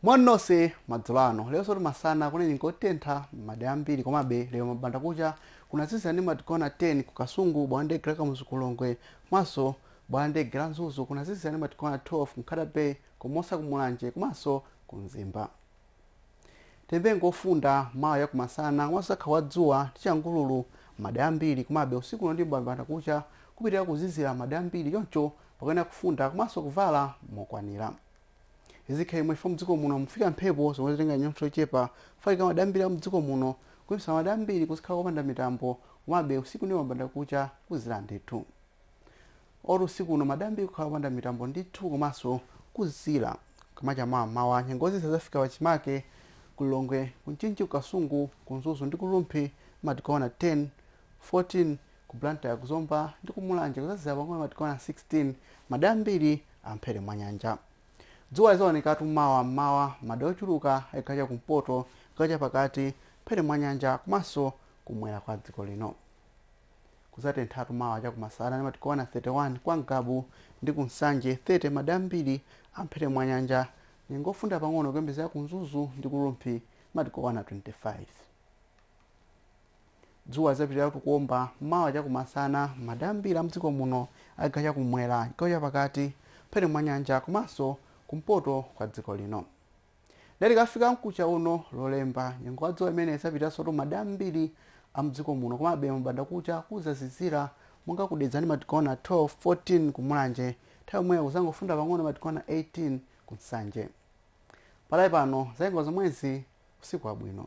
moni nonse madzulo ano leronsotu masana kunali nyengo yotentha m'madera ambiri komabe lero mabanda kucha kunazizira ndi madigiri okwana 10 ku kasungu bwalo la ndege la kamuzu ku lilongwe komanso bwalo la ndege la mzuzu kunazizira ndi madigiri okwana 12 ku nkhata bay ku mimosa ku mulanje komanso ku mzimba Tiyembekeze nyengo yofunda, mawa cha kumasana, komanso kudzakhala kwa dzuwa ndi changululu m'madera ambiri, komabe usiku uno ndi m'bandakucha kupitilira kuzizira m'madera ambiri choncho pakuyenera kufunda komanso kuvala mokwanira. Izi zikhala chomwechi chifukwa mdziko muno mufika mphepo zomwe zitenga chinyontho chochepa kufalikira m'madera ambiri a mdziko muno kuchititsa m'madera ambiri kuzikhala kopanda mitambo komabe usiku ndi m'bandakucha kuzizira ndithu. Kotero usiku uno m'madera ambiri kukhala kopanda mitambo ndithu komanso kuzizira. Kukamacha mawa mmawa nyengo yozizira izafika pachimake ku Lilongwe, ku Mchinji ku Kasungu, ku Mzuzu ndi ku Rumphi madigiri okwana 10, 14, ku Blantyre ku Zomba ndi ku Mulanje kuzazizira pang'ono madigiri okwana 16 madera ambiri a m'mphepete mwa nyanja. Dzuwa lizaonekatu mawa mmawa mmadera ochuluka a chigawo cha kumpoto, chigawo chapakati, m'mphepete mwa nyanja komanso kumwera kwa dziko lino. Kudzatenthatu mawa cha kumasana ndi madigiri okwana 31 kwa Ngabu ndi ku Nsanje 30 madera ambiri a m'mphepete mwa nyanja Nyengo yofunda pang'ono ikuyembekezeka ku Mzuzu ndi ku Rumphi ndi madigiri okwana 25 Dzuwa lidzapitiriratu kuomba mawa cha kumasana m'madera ambiri a m'dziko muno a chigawo cha kummwera, chigawo chapakati, m'mphepete mwa nyanja komanso kumpoto kwa dziko lino. Nde tikafika mkucha uno, Lolemba, nyengo wa dzuwa imeneyi idzapitiriransotu m'madera ambiri a mdziko muno komabe mabandakucha kudzazizira monga ku Dedza ndi madigiri okwana 12, 14 ku Mulanje nthawi yomweyo kudzangofunda pang'ono madigiri okwana 18 ku Nsanje. Pakadali pano zanyengo zomwezi, usiku wabwino.